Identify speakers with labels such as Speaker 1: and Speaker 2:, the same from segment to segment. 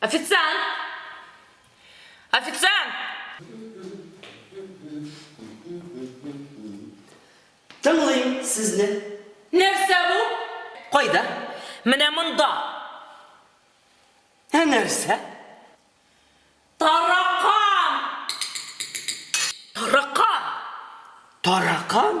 Speaker 1: Официант! Официант! Тыңлыйм сезне. Нәрсә бу? Кайда? Менә монда. Ә нәрсә? Таракан! Таракан! Таракан?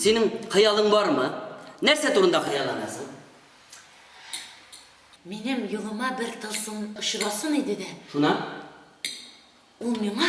Speaker 1: Синең хыялың бармы? Нәрсә турында хыялланасың? Минем юлыма бер тылсым очрасын иде дә. Шуна? Ул миңа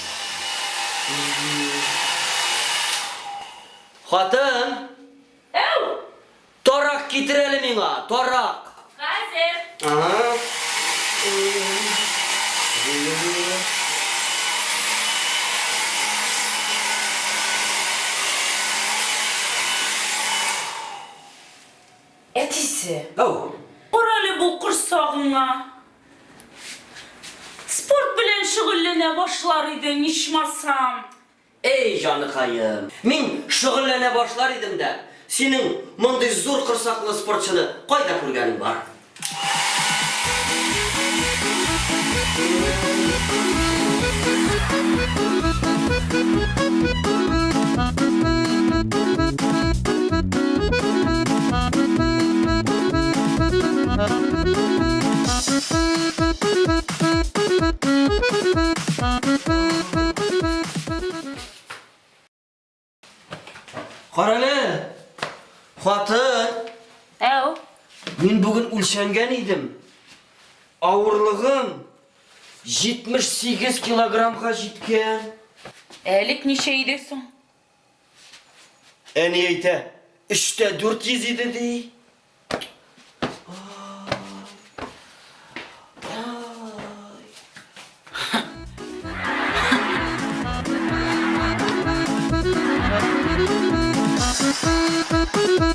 Speaker 1: Хатын! Әу! Тарак китер әле миңа, тарак! Хәзер! Әтисе! Әу! Кара әле бу корсагыңа! Спорт белән шөгыльләнә башлар идең, ичмасам. Әй, җаныкаем. Мин шөгыльләнә башлар идем дә, синең мондый зур корсаклы спортчыны кайда күргәнең бар? Карале! Хатын! Әу! Мин бүген үлчәнгән идем. Авырлыгым 78 килограммга җиткән. Әлек ничә иде соң? Әни әйтә, өчтә дүрт йөз иде ди.